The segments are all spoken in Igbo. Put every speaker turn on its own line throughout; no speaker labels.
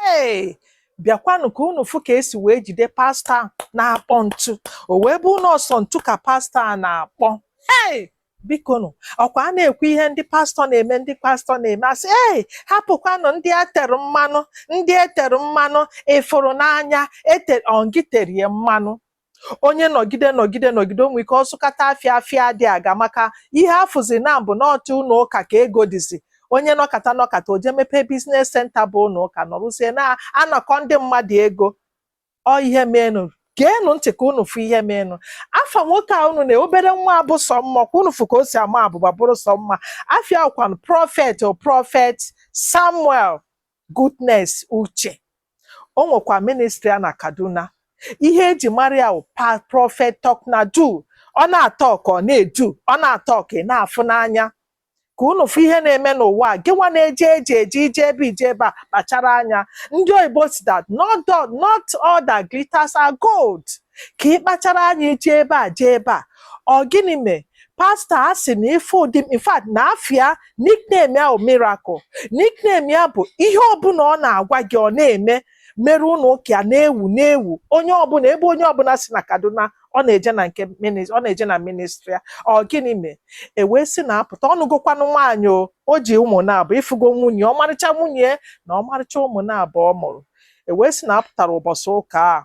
ee bịakwanụ ka unu fụ ka esi wee jide pastọ na-akpọ ntu o wee bụrụ na ọ sọ ntu ka pastọ a na-akpọ ee bikonu ọkwa a na-ekwu ihe ndị pastọ na-eme ndị pastọ na-eme asị ee hapụkwanụ ndị etere mmanụ ndị etere mmanụ ị fụrụ n'anya ete ọ ngị tere ya mmanụ onye nọgide nọgide nọgide o nwe ike ọ zụkata afịa afịa adị aga maka ihe afụzi na bụ n'ọtụ ụlọ ụka ka ego dịzi onye nọkata nọkata o jee mepee biznes senta bụ ụlọ ụka nọrọzie na-anakọ ndị mmadụ ego ọ ihe meenụ geenụ ntị ka unu fụ ihe meenụ afa nwoke a unu na obere nwa a bụ sọ mma kwa unu fụ ka o si ama abụba bụrụ sọ mma afa ya bụkwanụ prọfet o prọfet samuel Goodness Uche o nwekwa ministri ya na Kaduna ihe eji mara ya bụ prọfet talk na do ọ na-atọk ọ na-edu ọ na-atọk ị na-afụ n'anya ka unu fụ ihe na-eme n'ụwa a gịnwa na-eje eje eje i jee ebe i jee ebe a kpachara anya ndị oyibo sị that not all that glitters are gold ka ị kpachara anya jee ebe a jee ebe a ọ gịnị mee pastọ a sị na ife ụdị in fact na afa ya nickname ya bụ miracle nickname ya bụ ihe ọbụla ọ na-agwa gị ọ na-eme mere ụlọ ụka ya na-ewu na-ewu onye ọbụla ebe onye ọbụla si na kaduna ọ na-eje na nke minis- ọ na-eje na ministri ya ọ gịnị mee e wee sị na a pụta ọ nụgokwanụ nwaanyị o o ji ụmụ naabọ ị fụgo nwunye ọmarịcha nwunye na ọmarịcha ụmụ naabọ ọ mụrụ e wee sị na a pụtara ụbọchị ụka a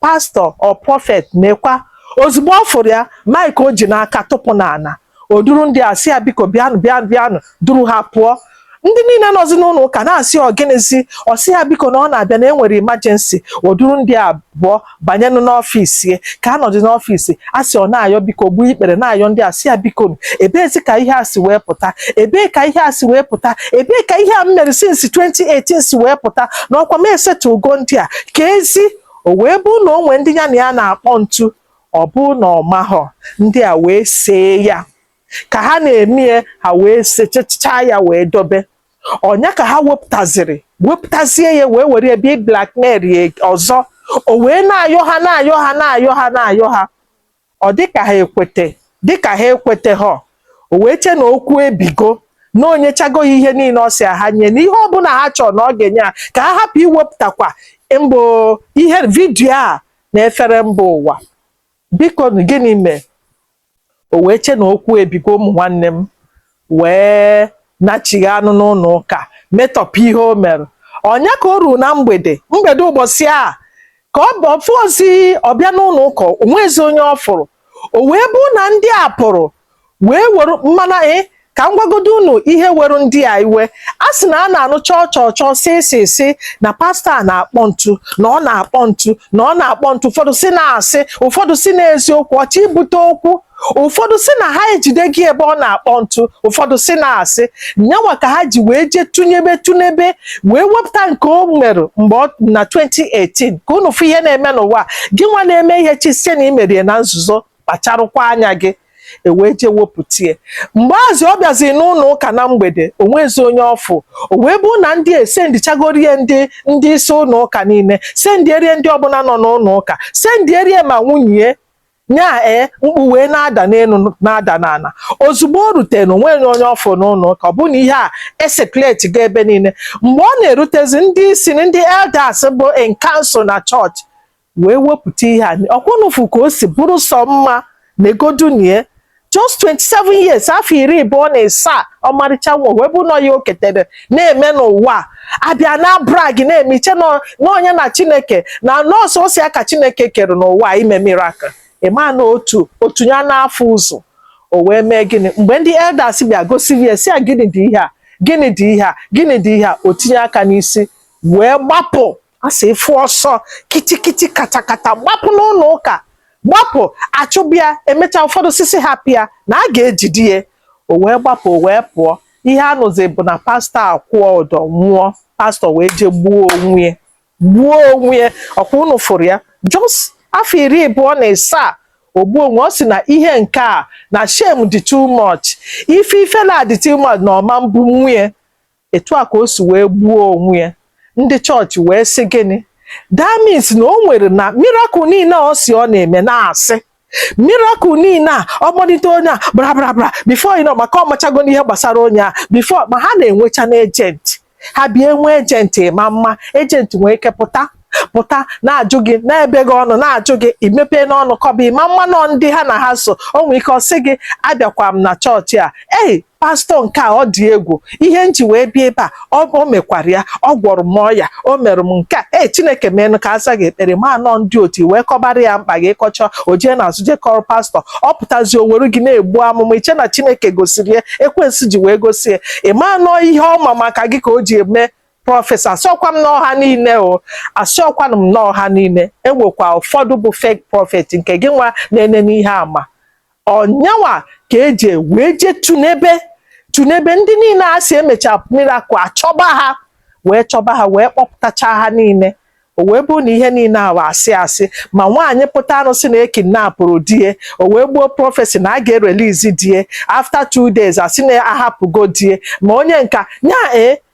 pastọ o prọfet nekwa ozugbo ọ fụrụ ya maịk o ji n'aka tụpụ n'ala o duru ndị a sị ha biko bịanụ bịanụ bịanụ duru ha pụọ ndị niile nọzi n'ụlọ ụka na-asị ọ gịnịzi ọ sị ha biko na ọ na-abịa na enwere imajensi o duru ndị a abụọ banyenụ n'ọfịs ya ka a nọdụ n'ọfịs a sị ọ na-ayọ biko gbuo ikpere na-ayọ ndị a sị ha biko nụ, ebeezi ka ihe a si wee pụta ebee ka ihe a si wee pụta ebee ka ihe a m mere since 2018 si wee pụta na ọkwa m esettlego ndị a ka ezi O wee bụrụ na o nwe ndị ya na ya na-akpọ ntu, ọ bụ na ọ mahọ, ndị a wee see ya. Ka ha na-eme ya, ha wee sechachaa ya wee dobe. Ọ nya ka ha wepụtaziri, wepụtazie ya wee were ya bịa blackmail ya ọzọ. O wee na-ayọ ha na-ayọ ha na-ayọ ha na-ayọ ha. Ọ dị ka ha ekwete, dị ka ha ekwetehọ, o wee che na okwu ebigo, na o nyechago ha ihe niile ọ sị a ha nye, na ihe ọbụla ha chọrọ na ọ ga-enye ha, ka ha hapụ iwepụtakwa mbụ ihe vidio a na-efere mba ụwa. Biko nụ, gịnị mee? O wee che na okwu ebigo, ụmụ nwanne m, wee nachighaanụ n'ụlọ ụka metọpụ ihe o mere ọ nya ka o ruru na mgbede mgbede ụbọchị a ka ọ bụ- fụ ozi ọ bịa n'ụlọ ụka o nwezi onye ọ fụrụ o wee bụ na ndị a pụrụ wee were mana ị ka m gwagodo unu ihe were ndị a iwe a sị na a na-anụ chọọ chọọ chọọ si si si na pastọ a na-akpọ ntu na ọ na-akpọ ntu na ọ na-akpọ ntu ụfọdụ sị na asị ụfọdụ sị na eziokwu ọ chọ ibute okwu ụfọdụ sị na ha ejidego ya ebe ọ na-akpọ ntu ụfọdụ sị na asị nya nwa ka ha ji wee jee tụnyebe tụnyebe wee wepụta nke o mere mgbe ọ na 2018 ka unu fụ ihe na-eme n'ụwa gị nwa na-eme ihe chee sị na i mere ya na nzuzo kpacharụkwa anya gị e wee jee wepụtie mgbe azị ọ bịaziri n'ụlọ ụka na mgbede o nwezi onye ọ fụ o wee bụ na ndị esendichagorie ndị ndị isi ụlọ ụka niile sendierie ndị ọbụla nọ n'ụlọ ụka sendierie ma nwunye Nya ee, mkpu wee na-ada n'elu na-ada n'ala. Ozugbo o rutere, o nweghị onye ọ fụrụ n'ụlọ ụka, ọ bụ na ihe a esekletịgo ebe niile. Mgbe ọ na-erutezi, ndị isi na ndị elders bụ in council na chọọchị wee wepụta ihe a. Ọkwa unu fụ ka o si bụrụ sọ mma? Legodunụ ya. just 27 years afọ iri abụọ na ịsaa ọmarịcha nwa wee bụ na ọ ya o ketere na-eme n'ụwa a bịa na-brag na-eme i chee na onye na chineke na nọọsụ o si aka chineke kere ụwa eme miracle ị ma na otu otu ya na-afụ ụzọ o wee mee gịnị mgbe ndị elders bịa gosiri ya sị ya gịnị dị ihe a gịnị dị ihe a gịnị dị ihe a o tinye aka n'isi wee gbapụ a sị ị fụ ọsọ kitikiti katakata gbapụ n'ụlọ ụka gbapụ a chụba ya e mechaa ụfọdụ sị sị hapụ ya na a ga-ejide ya o wee gbapụ o wee pụọ ihe a nụzi bụ na pastọ akwụọ ụdọ nwụọ pastọ wee jee gbuo onwe ya gbuo onwe ya ọkwa unu fụrụ ya just afọ iri abụọ na ịsaa o gbuo onwe ọ sị na ihe nke a na shame dị too much ife ifele dị too much na ọ ma ebunwu ya etu a ka o si wee gbuo onwe ya ndị chọọchị wee sị gịnị that means na o nwere na miracle niile ọ sị ọ na-eme na asị miracle niile a ọ kpọlite onye a brabrabra before you know maka ọ machagonụ ihe gbasara onye a before ma ha na-enwechanụ agent ha bịa enwe agent ma mma agent nwee ike pụta pụta na-ajụ gị na-ebe gị ọnụ na-ajụ gị i mepeenụ ọnụ kọba ị ma ama na ọ ndị ha na ha so o nwee ike ọ sị gị abịakwa m na chọọchị a ei pastọ nke a ọ dị egwu ihe m ji wee bịa ebe a o mekwara ya ọ gwọrọ m ọya o mere m nke a ee chineke meenụ ka a zaa gị ekpere ma na ọ ndị otu i wee kọbara ya mkpa gị ị kọchaa o jee n'azụ jee kọrọ pastọ ọ pụtazi o were gị na-egbu amụma i chee na chineke gosiri ya ekwensu ji wee gosi ya ị ma na ọ ihe ọ ma maka gị ka o ji eme prophecy asọkwa m na ọ ha niile o asọkwanụ m na ọ ha niile e nwekwa ụfọdụ bụ fake prophet nke gị nwa na-ene n'ihe ama ọnyanwa ka eji wee je tunebe tunebe ndị niile a sị emecha miracle achọba ha wee chọba ha wee kpọpụtacha ha niile o wee bụrụ na ihe niile ahụ asị asị ma nwaanyị pụtarụ sị na ekidnapụrụ di ya o wee gbuo prophecy na a ga-erelizi di ya after two days a sị na ahapụgo di ya ma onye nka nya ee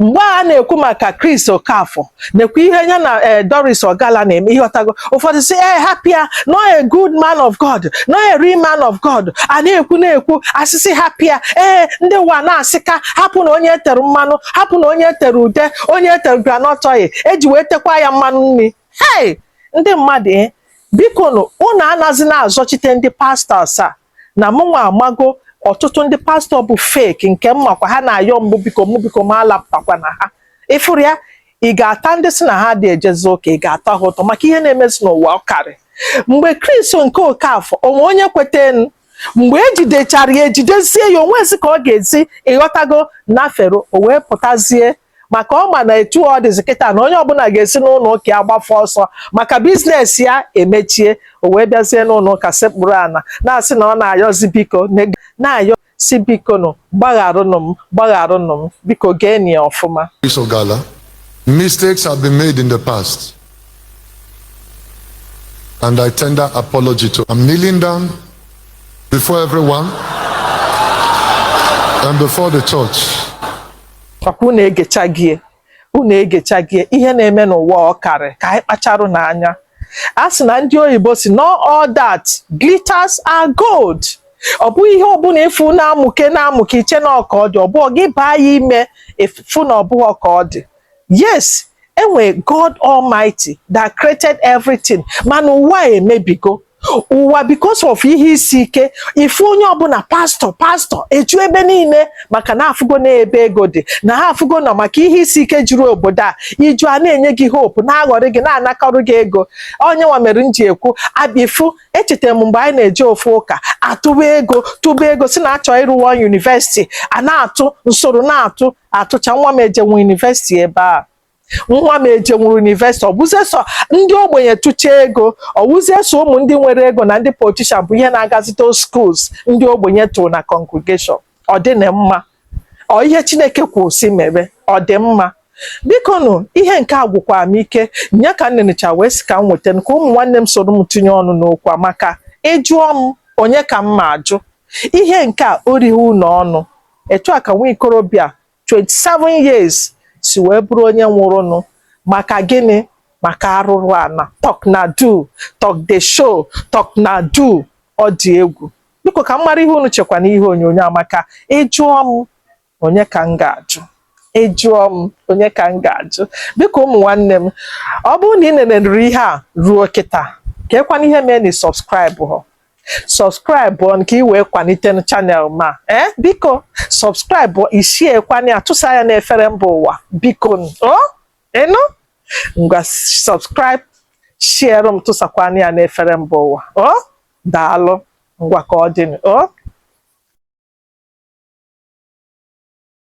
mgbe a na-ekwu maka Chris Okafor na-ekwu ihe ya na eh, Doris Ogala na-eme ịghọtago ụfọdụ sị ee eh, hapụ ya na ọ a good man of God na ọ a real man of God a na-ekwu na-ekwu asịsị hapụ ya ee eh, ndị ụwa na-asị ka hapụnụ onye e tere mmanụ hapụnụ onye e tere ude onye e tere groundnut oil eji wee tekwa ya mmanụ nri hei ndị mmadụ biko nụ unu anazina azọchite ndị pastọs a na mụnwa amago ọtụtụ ndị pastọ bụ fake nke m makwa ha na-ayọ m bụ biko mụ biko m alapụtakwana ha ịfụrụ ya ị ga-ata ndị sị na ha adị ejezi ụka ị ga-ata ha ụta maka ihe na-emezi n'ụwa ọ karị mgbe Christo nke Okafor o nwe onye kwetenụ mgbe ejidechara ya ejidezie ya o nwezi ka ọ ga-ezi ịghọtago na fero o wee pụtazie maka ọ ma na etu ọ dịzi kịta na onye ọbụla ga-esi n'ụlọ ụka ya gbafụ ọsọ maka biznes ya emechie o wee bịazie n'ụlọ ụka sekpuru ana na-asị na ọ na-ayọzi biko na-ayọ sị biko nụ gbagharụnụ m gbagharụnụ m biko geenụ ya ọfụma Doris
Ogala, mistakes have been made in the past. And I tender apology to. I'm kneeling down before everyone and before the church.
papa unu egechago ya unu egechago ya ihe na-eme n'ụwa ọ karị ka anyị kpacharụnụ anya a sị na ndị oyibo sị not all that glitters are gold ọ bụghị ihe ọbụla ịfụ na-amụke na-amụke i che na ọ ka ọ dị ọ bụọ gị baa ya ime ịfụ na ọ bụhọ ka ọ dị yes e nwe God Almighty that created everything mana ụwa emebigo ụwa because of ihe isi ike ị fụ onye ọbụla pastọ pastọ eju ebe niile maka na afụgo na ebe ego dị na ha afụgo na ọ maka ihe isi ike juru obodo a iju a na-enye gị hope na-aghọrị gị na-anakọrọ gị ego ọ nya nwa mere m ji ekwu abi ị fụ echetara m mgbe anyị na-eje ofu ụka atụba ego tụba ego sị na a chọ ịrụ one university a na-atụ m soro na-atụ atụcha nwa m ejenwu university ebe a nwa m ejenwuru university ọ bụzie sọ ndị ogbenye tụcha ego ọ bụzie sọ ụmụ ndị nwere ego na ndị politician bụ ihe na-agazite schools ndị ogbenye tụrụ na congregation ọ dịnụ mma ọ ihe chineke kwuru sị mere ọ dị mma biko nụ ihe nke a gwụkwara m ike nya ka m nenecha wee sị ka m weta ka ụmụ nwanne m soro m tinye ọnụ n'okwu a maka ịjụọ m onye ka m ma ajụ ihe nke a o righị unu ọnụ etu a ka nwa ikorobịa 27 years si wee bụrụ onye nwụrụnụ maka gịnị maka arụrụ ana talk na do talk the show talk na do ọ dị egwu biko ka m mara ihe unu chekwa n'ihe onyonyo a maka ị jụọ m onye ka m ga-ajụ ị jụọ m onye ka m ga-ajụ biko ụmụ nwanne m ọ bụrụ na ị nenere ihe a ruo kịta ka ekwana ihe mee na ị subscribe họ subscribe o ka i wee kwalite channel m a ee eh, biko subscribe ị share kwanụ ya tụsa ya n'efere mba ụwa biko o ị nụ ngwa subscribe sharerụ m tụsakwanụ ya n'efere mba ụwa o daalụ ngwa ka ọ dị o